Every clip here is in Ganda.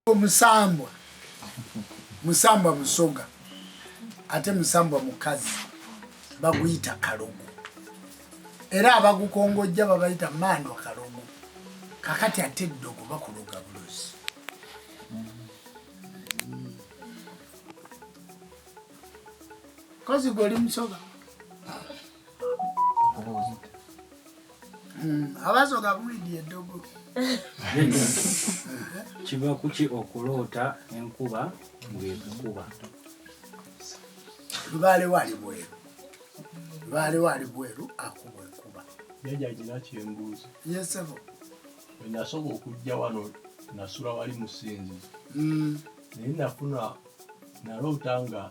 omusambwa musambwa musoga ate musambwa mukazi baguyita kalogo era abagukongojja babayita mandwa kalogo kakati ate eddogo bakuloga bulozi kozi goli musoga Hmm, abasoga bulidi eddogo kiva kuki okuloota enkuba ngekukuba lubaale wali bweru lubaale wali bweru akuba enkuba jaja gina kyembuuzi yesebo wenasoka okujja wano nasula wali musinzi hmm. naye nafuna naloota nga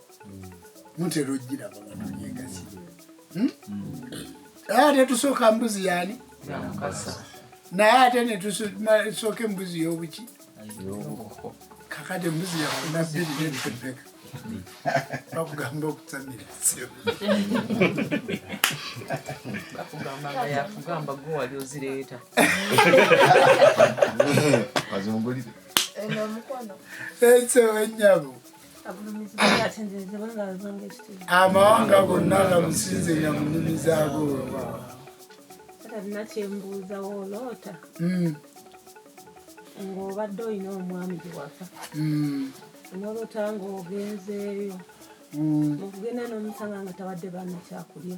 mutera ogiraba nga tulyegazi hmm? ate tusooka mbuzi yani naye ate netusooka embuzi yobuki kakati embuzi yafuna bbiri nenpepeka bakugamba okutamira ekyo enyabo amawanga gonna gamusinze nga mu nnimi zaago wewaawo talina kyembuuza woloota hmm. ng'obadde olina omwami giwaka hmm. noloota ng'ogenzeeyo hmm. okugenda n'omusanga nga tabadde baana kyakulya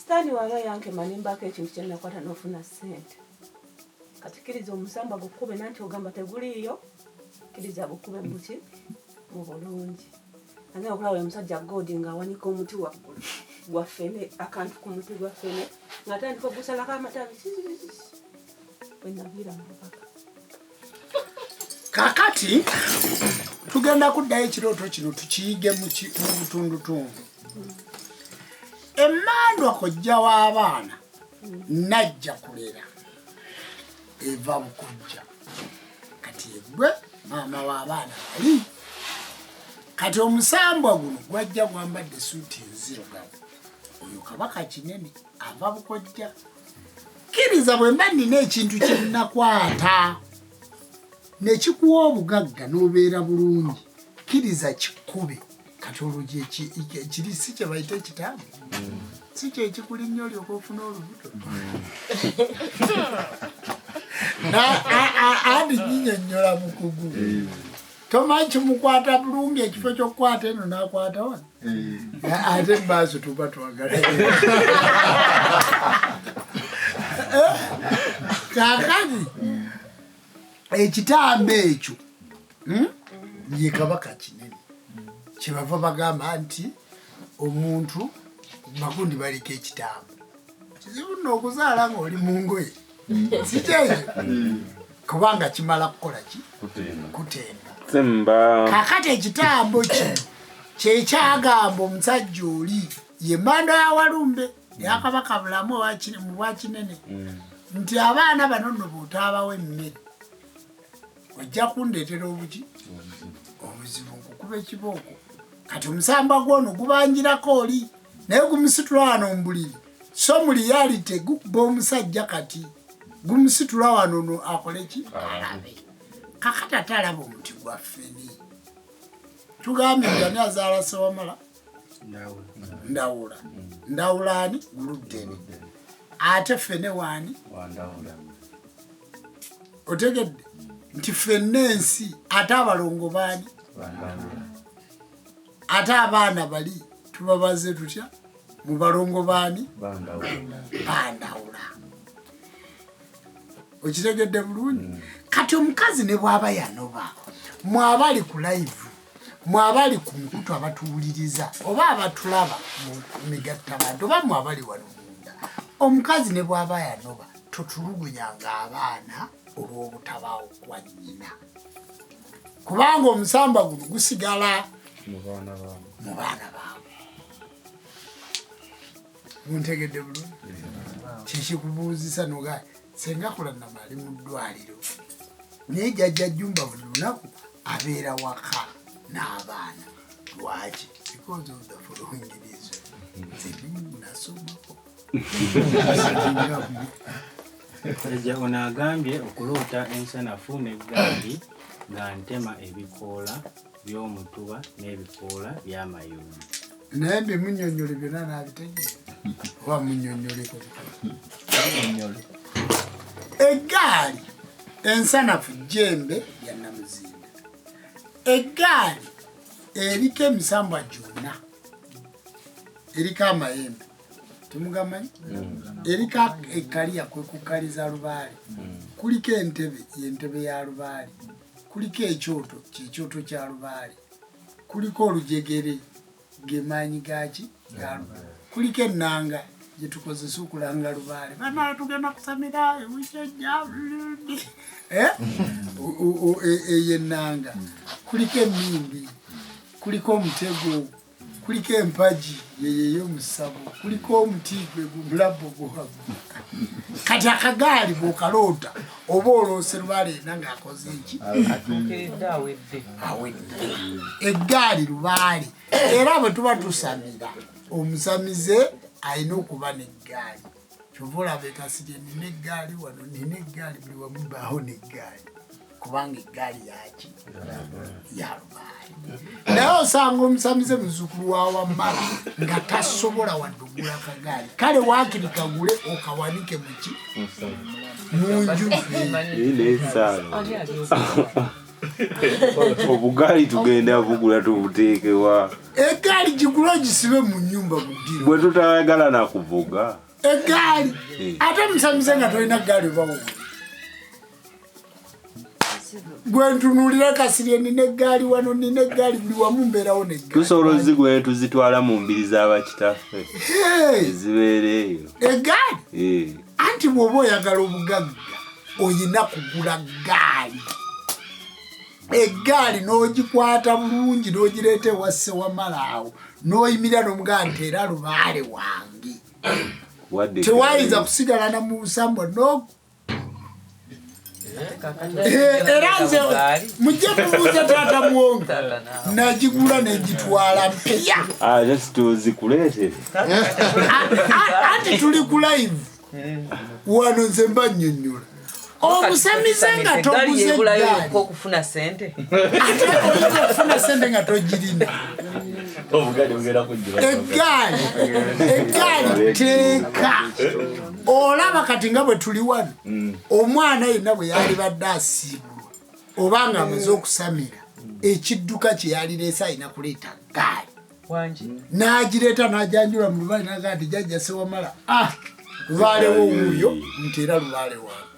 sitaani waaba yankema nembaako ekintu kyenakwata nofuna sente kati kiriza omusamba gukube nanti ogamba teguliiyo kiriza bukube muki mu bulungi ane okulaba omusajja god nga awanika omuti waggulu gwa fene akantu ku muti gwa fene nga tandika ogusalako amatabi wenaviira mubaka kakati tugenda kuddayo ekirooto kino tukiyige mu butundutundu emmandwa kojja w'abaana najja kulera eva mukojja kati egwe maama w'abaana bali kati omusambwa guno gwajja gwambadde suuti enzirugavu oyo kabaka kinene ava bukojja kkiriza bwe mba nnina ekintu kye nnakwata ne kikuwa obugagga n'obeera bulungi kkiriza kikkube kati olwo kiri si kye bayita ekitaamu si kyo ekikuli nnyo olyoka ofuna olubuto andi nyinyonnyola mukugu tomanyi kimukwata bulungi ekifo kyokukwata eno nakwata wano eh. ate mumaaso tuba twagala eh, kakani ekitambo ekyo hmm? ye kabaka kinene kyebava bagamba nti omuntu magundi baleka ekitambo kizibu nokuzaala ngaoli mungoye kiteezo kubanga kimala kukola ki kutenda kakati ekitambo ki kyekyagamba omusajja oli ye manda ya walumbe yakabaka bulamu mu bwakinene mm. nti abaana bano no bwotaabawo emmere ojja kundeetera obuki obuzibu nkukuba ekibooko kati omusamba gwono gubanjirako oli naye gumusitula wano mubuliri so mu reality gukuba omusajja kati gumusitula wano no akoleki alabe kakata talaba omuti gwaffe ni tugambye jani azaala sewamala ndawula ndawula ani luddene ate fene waani otegedde nti fenna ensi ate abalongo baani ate abaana bali tubabaze tutya mu balongo baani bandawula okitegedde bulungi mm. kati omukazi ne bwaba yanoba mwaba ali ku live mwe abali ku mukutu abatuwuliriza oba abatulaba mu migatta bantu oba mwe abali wano munda omukazi ne bw'aba yanoba totulugunya ng'abaana olw'obutabaawo kwa nnyina kubanga omusamba guno gusigala mu baana baabwe muntegedde bulungi kyekikubuuzisa nogaa senga kulanama ali mu ddwaliro naye jajja jumba buli lunaku abeera waka n'abaana lwaki because of the following reason nasomako eja ono agambye okuloota ensanafu n'eggaali nga ntema ebikoola by'omutuba n'ebikoola by'amayuuni naye mbimunyonyole byonna naabitegere oba munyonyoleko eggaali ensanafu jembe ya namuzinda eggaali eriko emisambwa gyonna eriko amayembe temugamanyi mm. eriko ekkaliya kwekukaliza lubaale mm. kuliko entebe yentebe ya lubaale kuliko ekyoto kyekyoto kya lubaale kuliko olujegere gemaanyi gaki galubaale kuliko ennanga gyetukozesa okulanga lubaale banaa tugenda kusamira ewisajja eh? e, eyo ennanga kuliko emimbi kuliko omutego kuliko empagi yeyeyo omusabo kuliko omuti gwe gumulabbo guhagu kati akagaali bwokaloota oba oloose lubalenda ngaakoze eki eggaali lubaale era bwe tuba tusamira omusamize alina okuba neggaali kyova olaba ekasirye nina eggaali wano nina eggaali buli wamu baawo neggaali kubanga eggaali yaki yalubaali naye osanga omusamize muzukulu wawamala nga tasobola wadugula kagaali kale wakiri kagule okawanike muki munju obugaali tugenda bugula tubuteekewa egaali gigula ogisibe mu nyumba guddi bwe tutayagala nakuvuga egaali eh. ate musamize nga tolina gaali obawo gwentunulira kasirye nina egaali wano nina egaali buli wamu mbeerawo netusobola ozigu netuzitwala mu mbiri za bakitaffe ezibeera eyo egaali eh. anti bwoba oyagala obugagga oyina kugula gaali egaali n'ogikwata bulungi n'ogireeta ewasse wamalaawo n'oyimirira n'omugaa nti era lubaale wange tewayinza kusigala na munsambwa Eh, era nze mujje mubuuza taata muwongo nagigula negitwala mpya ah, anti tuli ku live wano nze mba nyonyola omusamize nga toguze okufuna sente ate oyinza okufuna sente nga togirina egaali egaali teeka olaba kati nga bwe tuli wano mm. omwana yenna bwe yalibadde asiibulwa oba nga amaze okusamira ekidduka kye yalireese alina kuleeta gaali n'agireeta n'ajanjula mu lubaale naga nti jajja sewamala ah lubaalewo wuuyo nti era lubaale wange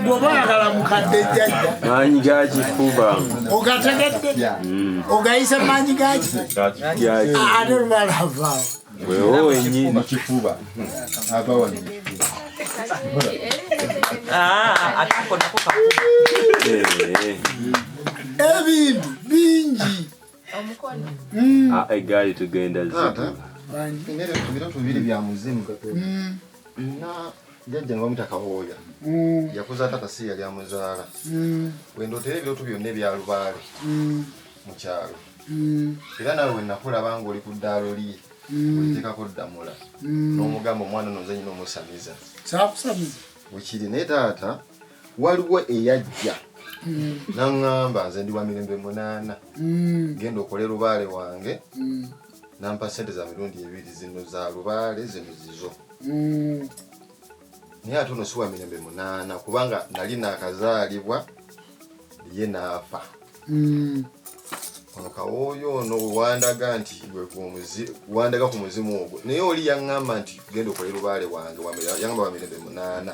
bwoba oyagala mukadde jjajja maanyi gakifuba ogategedde mm. ogayise maanyi gaki ate olumala avaawo wewo wenyini mukifuba abawa ah, eh. ebintu bingi omukono mm. ah, egaali tugenda zibiro tubiri bya muzimu mm. na jajja nga bamuyita kawooya mm. yakuza taata si yali amuzaala wendootera ebiroto byonna ebya lubaale mu kyalo era nawe wenakulaba nga oli ku ddaalo lye oliteekako ddamula n'omugamba omwana nozanyina omusamiza bwekiri naye taata waliwo eyajja mm. naŋŋamba nze ndi wa mirembe munaana mm. genda okole lubaale wange mm. nampa sente za mirundi ebiri zino za lubaale zino zizo naye ate ono si wa mirembe munaana kubanga nali nakazaalibwa ye naafa ono kawooyo ono wewandaga nti wandaga ku muzimu ogwo naye oli yaŋŋamba nti genda okole lubaale wange yaŋamba wa mirembe munaana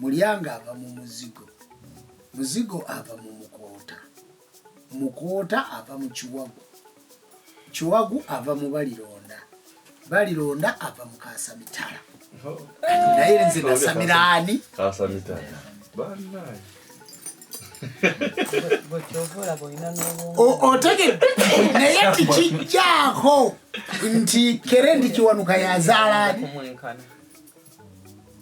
Mulyanga ava mu muzigo, muzigo ava mu mukoota, mukoota ava mu kiwagu, kiwagu ava mu balironda, balironda ava mu kasamitala. Naye nze nasamira ani? Kasamitala. Banaye. otegedde naye tikijjaako nti kere ndi kiwanuka yazaalaani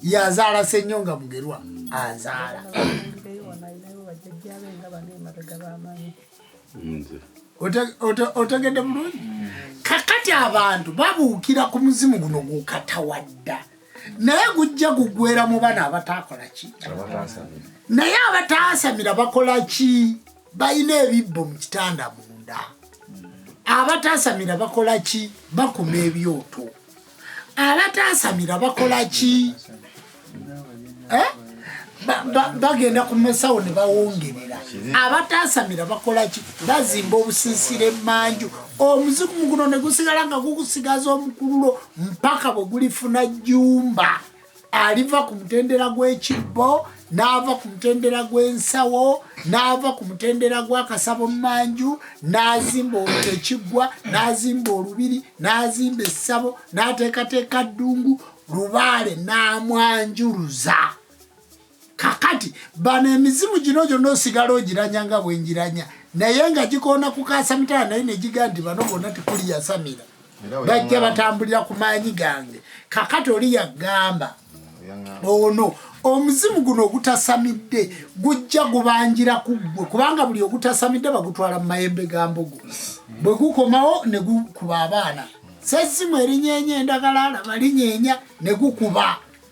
yazaala senyonga mugerwa azaala otegedde bulungi kakati abantu babuukira ku muzimu guno gukatawadda naye gujja gugwera mu bana abataakola ki naye abataasamira bakola ki balina ebibbo mu kitanda munda abataasamira bakola ki bakuma ebyoto abataasamira bakola ki eh? bagenda ku masawo ne bawongerera abataasamira bakola ki bazimba obusiisira emanju omuzimu muguno ne gusigala nga gugusigaza omukululo mpaka bwe gulifuna jjumba aliva ku mutendera gw'ekibbo n'ava ku mutendera gw'ensawo n'ava ku mutendera gw'akasabo mmanju n'azimba ekiggwa n'azimba olubiri n'azimba essabo n'ateekateeka ddungu lubaale n'amwanjuluza kakati bano emizimu gino gyonna osigala ogiranya nga bwengiranya naye nga gikoona kukaasa mitala naye negiga nti bano bonna tekuli yasamira bajja batambulira ku maanyi gange kakati oli yagamba ono omuzimu guno ogutasamidde gujja gubanjira ku ggwe kubanga buli ogutasamidde bagutwala mu mayembe ga mbugu bwe gukomawo ne gukuba abaana sesimu erinyeenya endagala alaba linyeenya ne gukuba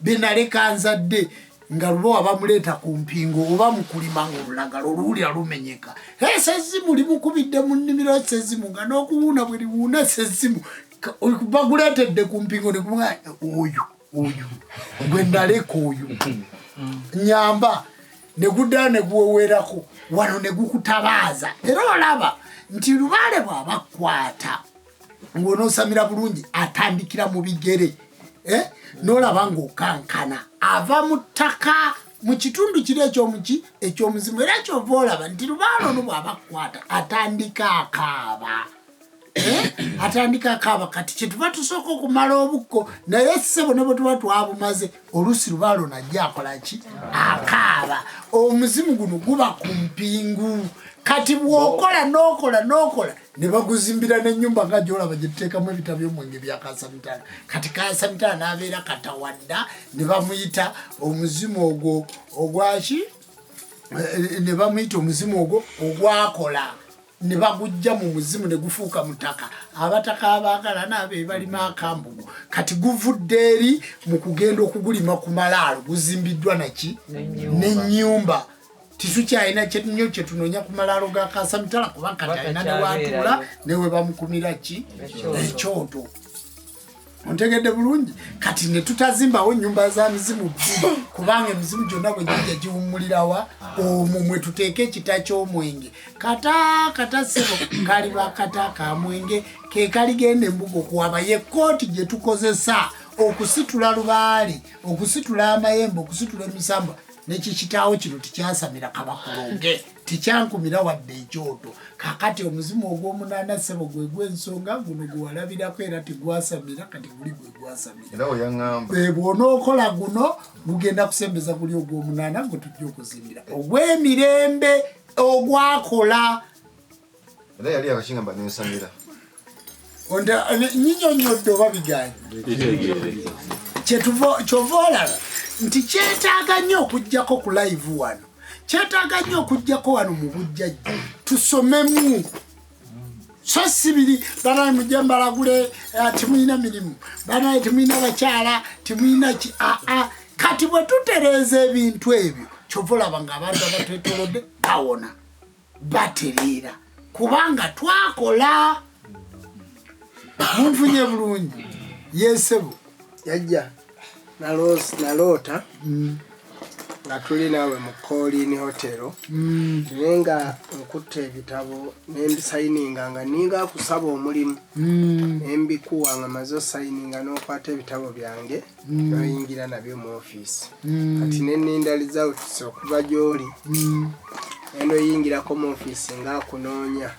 benaleka nzadde nga lubowa bamuleeta ku mpingo oba mukulima nga olulagala oluwulira lumenyeka esezzimu limukubidde mu nnimiro esezzimu nga n'okuwuuna bwe liwuuna esezzimu baguleetedde ku mpingo nekuma oyo oyo gwe naleka oyo nyamba neguddala neguwewerako wano negukutabaaza era olaba nti lubaale bwaba kukwata ng'onoosamira bulungi atandikira mu bigere eh? n'olaba ng'okankana ava mu ttaka mu kitundu kiri ekyomuki ekyomuzimu era kyova olaba nti lubaalo no bwabakukwata atandika akaaba eh? atandika akaaba kati kyetuba tusooka okumala obukko naye ssebo ne bwetuba twabumaze oluusi lubaalo najja akolaki akaaba omuzimu guno guba ku mpingu kati bwokola nokola nokola ne baguzimbira n'ennyumba nga gyolaba gye tuteekamu ebita by'omwenge bya kasamitala kati kasamitala n'abeera katawadda ne bamuyita omuzimu ogwo ogwaki eh, ne bamuyita omuzimu ogwo ogwakola ne bagujja mu muzimu ne gufuuka mutaka abataka abaagala naabo ebalima akambugu kati guvudde eri mu kugenda okugulima ku malaalo guzimbiddwa naki n'ennyumba titukyalina kyenyo kyetunonya ku malaalo ga kasamitala kuba kati alina newatuula newebamukumira ki ekyoto ontegedde bulungi kati netutazimbawo nyumba za mizimu bbiri kubanga emizimu gyonna bwe gija giwummulirawa omwo mwe tuteeka ekita ky'omwenge kata kata sebo kali bakata ka mwenge ke kaligenda embuga okuwaba ye kkooti gye tukozesa okusitula lubaale okusitula amayembe okusitula emisamba nekikitaawo kino tikyasamira kabakulonge tikyankumira wadde ekyoto kakati omuzimu ogwomunaana sebo gwe gwensonga guno gwewalabirako era tegwasamira kati guli gwe gwasamirabwonookola eh, guno gugenda kusembeza guli ogwomunaana gwe tujja okuzimbira ogwemirembe ogwakola era yali akakingamba nensamira nyinyonyodde oba biganyi kyova olaba nti kyetaaga nnyo okugjako ku live wano kyetaaga nnyo okugjako wano mu bujjajja tusomemu so sibiri banaye mujja mbalagule eh, timulina mirimu banaye timulina bakyala timulina ki aa ah, ah. kati bwe tutereeza ebintu ebyo kyova olaba nga abantu abatwetolodde bawona batereera kubanga twakola munfunye bulungi yesebo yajja naloota mm. nga tuli naawe mu kolini hotero mm. naye nga nkutte ebitabo nembisayininga nga ninga kusaba omulimu mm. nembikuwa nga maze osayininga nokwata ebitabo byange noyingira mm. nabyo mu office mm. kati neninda results okuva gyoli mm. enoyingirako mu office nga akunoonya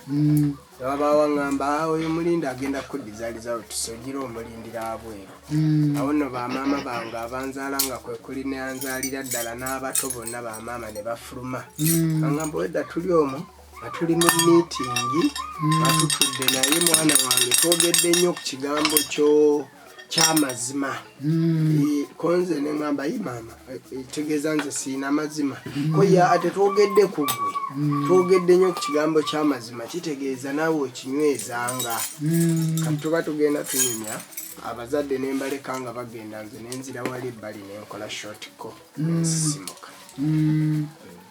newabawo aŋamba ah, oyo mulindi agenda kudiza results ogira omulindira abweru awo no bamaama bange abanzaala nga kwekuli neanzaalira ddala n'abato bonna bamaama ne bafuluma aŋamba wedda tuli omu nga tuli mu miitingi nga tutudde naye mwana wange twogedde nnyo ku kigambo kyoo kyamazima hmm. eh, konze neŋamba yi maama eh, eh, tegeeza nze siina mazima hmm. koye ate twogedde ku gwe hmm. twogedde nnyo ku kigambo kyamazima kitegeeza naawe okinywezanga kati tuba tugenda tunyumya abazadde nembaleka nga bagenda nze nenzira wali ebbali nenkola shotco nsisimuka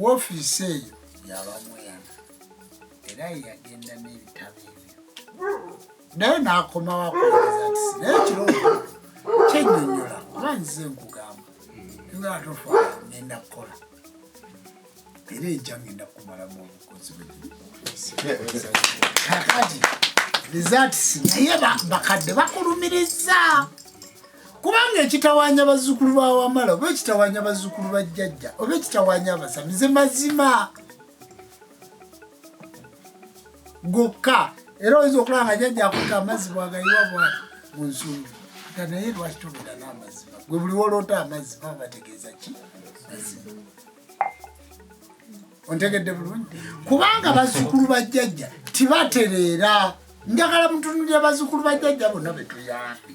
Woofiisi eyo yabamweyana era yeyagenda n'ebitabo ebyo naye n'akomawo akulageza nti naye ekirowoozo kyennyonnyola kuba nzize nkugamba ngala tofaala ngenda kukola era enkya ngenda kukumalamu obukozi bwekakati results naye bakadde bakulumiriza kubanga ekitawanya bazzukulu ba wamala oba ekitawanya bazzukulu ba jjajja oba ekitawanya abasamize mazima gokka era oyinza okulaba nga jjajja akuta amazzi bwagayiwa bwati mu nsumbi nga naye lwaki tobera n'amazima gwe buli woloota amazzi baba bategeeza ki mazima ontegedde bulungi kubanga bazzukulu ba jjajja tibatereera njagala mutunulira bazzukulu ba jjajja bonna betuyambi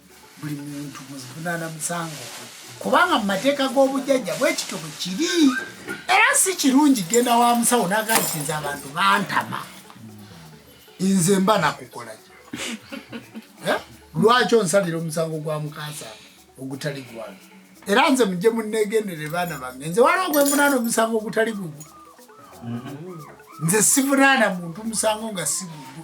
buli muntu muzivunaana musango kubanga mu mateeka g'obujjajja bwekityo bwe kiri era si kirungi genda wa musawo nagakiza abantu bantama nze mba nakukola eh? lwaki onsalira omusango gwa mukansa ogutali gwange era nze mujje munegendere baana bange nze waliwo gwemunaana omusango ogutali gugwo nze sivunaana muntu musango nga si gugwo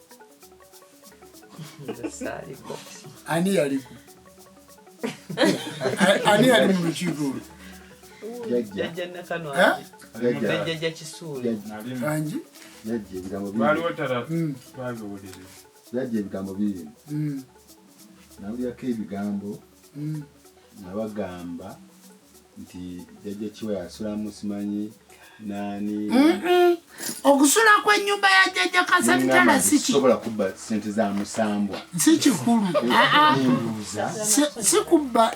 ani yaliku ani yali mu lukiiko olwo jajja ebigambo biri nawulirako ebigambo nabagamba nti jajja kiwa yasulamu simanyi nani okusula kwenyumba ya jajja kasabitala sikisobola kubba sente za musambwa sikikulu ah, ah. sikubba